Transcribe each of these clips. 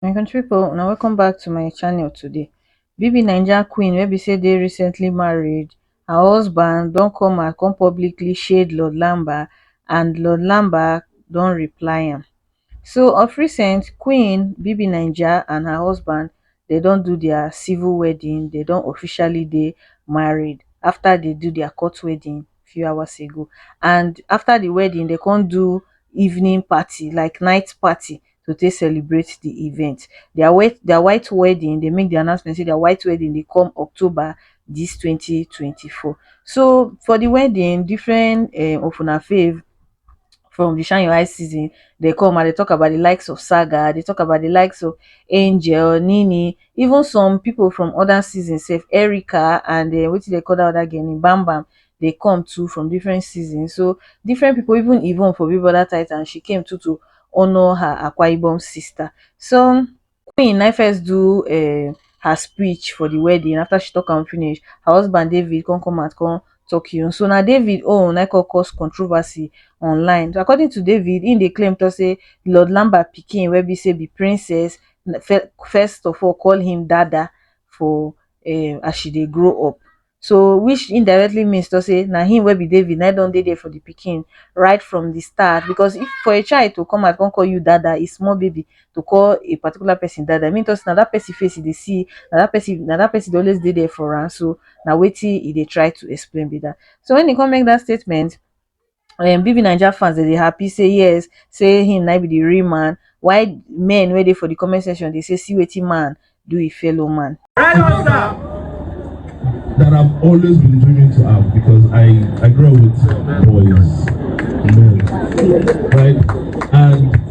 my country people now welcome back to my channel today bb naija queen wey be say they recently married her husband don't come and come publicly shade lord lamba and lord lamba don't reply him So of recent, Queen BBNaija and her husband dem don do their civil wedding, dem don officially dey married after they do their court wedding few hours ago and after the wedding they come do evening party like night party to take celebrate the event. Their wed their white wedding they make the announcement say their white wedding dey come October this twenty twenty four. So for the wedding different um of una fave from the shine your eyes season dey come and dey talk about the likes of Saga, dey talk about the likes of Angel, Nini, even some people from other seasons sef, Erica and um wetin dey call that other girl name, Bam Bam dey come too from different seasons. So different people even Yvonne for Big Brother Titan she came too to honour her Akwa Ibom sister. So queen na im first do um her speech for di wedding after she tok am finish her husband david come come out come tok hin own so na david own na im come cause controversy online according to david im dey claim tok say lord lamba pikin wey be say be princess first of all call him dada for um as she dey grow up so which indirectly means to say na him wey be David na him don dey there for the pikin right from the start because if for a child to come out come call you dada a small baby to call a particular person dada mean to say na that person face e dey see na that person na that person dey always dey there for am so na wetin e dey try to explain be that so when e come make that statement um bbnaija fans dem dey happy say yes say him na be the real man while men wey dey for the comment section dey say see wetin man do him fellow man. that I've always been dreaming to have because I, I grew up with boys, men, right? And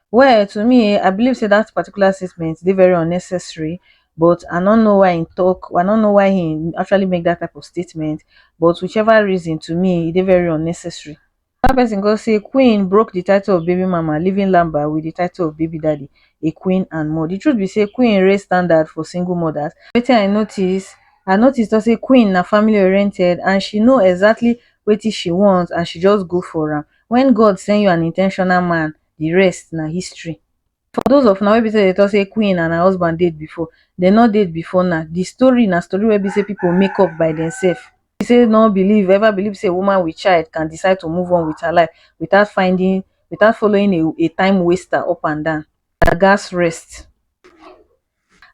Well to me I believe say that particular statement dey very unnecessary but I no know why he talk I no know why he actually make that type of statement but whichever reason to me e dey very unnecessary. One person go say Queen broke the title of baby mama leaving Lamba with the title of baby daddy, a queen and more. The truth be say Queen raise standard for single mothers. Wetin I notice, I notice talk say Queen na family oriented and she know exactly wetin she want and she just go for am. When God send you an intentional man the rest na history. For those of una wey be sey dey talk sey queen and her husband date before, dem no date before now. The story na story wey be sey people make up by themselves. Be sey no believe ever believe sey a woman with child can decide to move on with her life without finding without following a a time waster up and down. Una gas rest.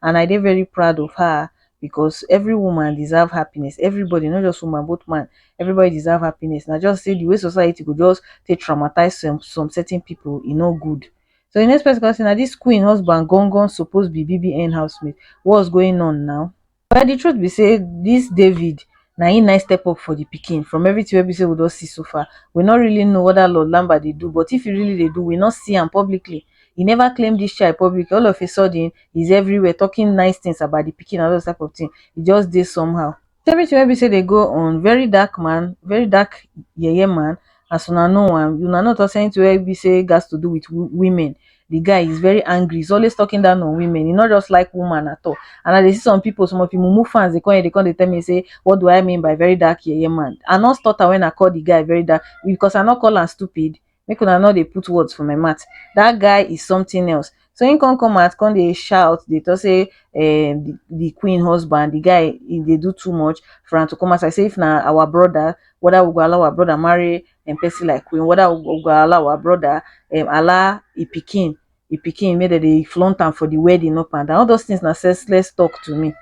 and I dey very proud of her because every woman deserve happiness everybody not just woman both man everybody deserve happiness na just say the way society go just take traumatize some some certain people e no good so the next person come say na this queen husband gangan suppose be BBN housemate what's going on now But the truth be say this David na him na him step up for the pikin from everything wey be say we don see so far. We no really know what that Lord Lamba dey do but if he really dey do, we no see am publicly. He never claim this child publicly. All of a sudden, he's everywhere talking nice things about the pikin and all those type of thing. He just dey somehow. So everything wey be say dey go on, very dark man, very dark yeye man as una know am. Una no talk say anything wey be say gats to do with women the guy is very angry he's always talking down on women he not just like woman at all and i dey see some people some of the mumu fans they come here they come they tell me say what do i mean by very dark yeye man i not stutter when i call the guy very dark because i not call am stupid make una no dey put words for my mouth that guy is something else so him come come out come dey shout dey talk say um, the, the queen husband the guy he dey do too much for am to come outside say if na our brother whether we go allow our brother marry um person like Queen whether u go allow ur brother um allow e pikin e pikin make dem dey flaunt am for the wedding up and down all those things na senseless talk to me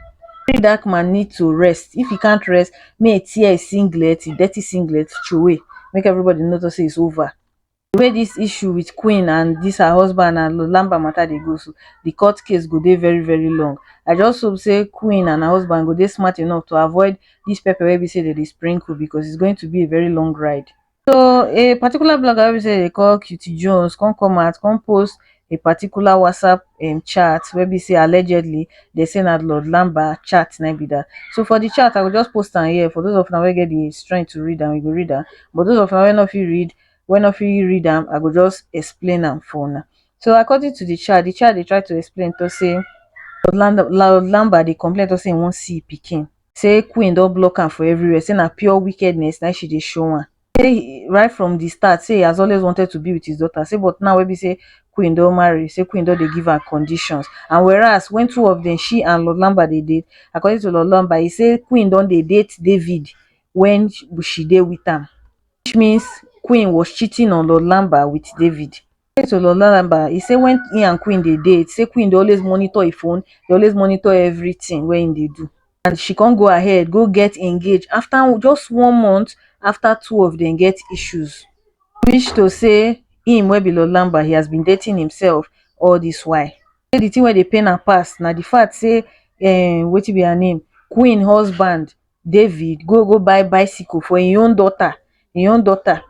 Make that man need to rest if he can't rest make e tear his singlet his dirty singlet throway make everybody know to say it's over the way this issue with Queen and this her husband and Lamba matter dey go so the court case go dey very very long I just hope say Queen and her husband go dey smart enough to avoid dis pepper wey be sey dem dey sprinkle because it's going to be a very long ride. So a particular blogger wey be sey dem dey call Cutie Jones come come out come post a particular WhatsApp um chat wey be sey allegedly dem say na Lord Lamba chat na im be dat. So for de chat I go just post am here for those of una wey get de strength to read am you go read am but those of una wey no fit read wey no fit read am I go just explain am for una. So according to de chat, de chat dey try to explain talk sey Lord Lamba dey complain talk sey im wan see im pikin say queen don block am for everywhere say na pure wickedness na im she dey show am say right from the start say he has always wanted to be with his daughter say but now wey be say queen don marry say queen don dey give am conditions and whereas when two of them she and Lord Lamba dey date according to Lord Lamba he say queen don dey date David when she dey with am which means queen was cheating on Lord Lamba with David to Ololalaba, e say when im and Queen dey date, say Queen dey always monitor im phone, dey always monitor everything wey im dey do. And she come go ahead go get engaged after just one month after two of dem get issues. Which to say im wey be Lord Lamba, he has been dating himself all this while. Say the thing wey dey pain am pass na the fact say um wetin be her name, Queen husband David go go buy bicycle for im own daughter, im own daughter.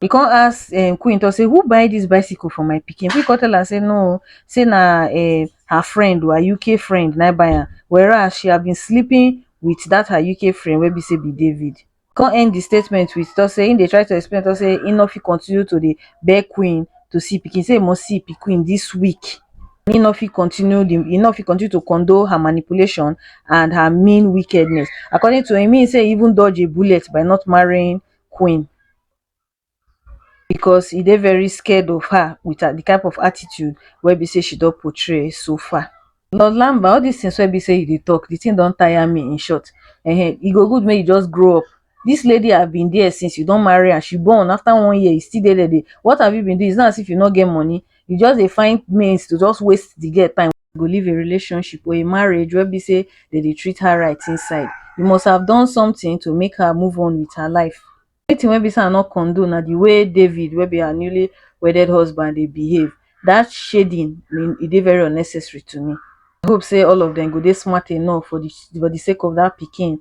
He come ask um Queen talk say who buy this bicycle for my pikin? Queen come tell am say no o, say na um her friend o, her UK friend na im buy am. Whereas she had been sleeping with that her UK friend wey be say be David. Come end the statement with talk say im dey try to explain talk say im no fit continue to dey beg Queen to see pikin, say e must see pikin this week. and e no fit continue di e no fit continue to condone her manipulation and her mean wickedness according to im mean say e even dodge a bullet by not marrying Queen because e dey very scared of her with her di type of attitude wey be say she don portray so far. Lord Lamba all dis things wey be say you dey talk di thing don tire me in short um e go good make you just grow up This lady have been there since you don marry and she born after one year you still dey there dey what have you been doing it's not as if you no get money you just dey find means to just waste the girl time go leave a relationship or a marriage wey be say they dey treat her right inside you must have done something to make her move on with her life anything wey be say I no condone na the way David wey be her newly wedded husband dey behave that shading mean e dey very unnecessary to me I hope say all of them go dey smart enough for the for the sake of that pikin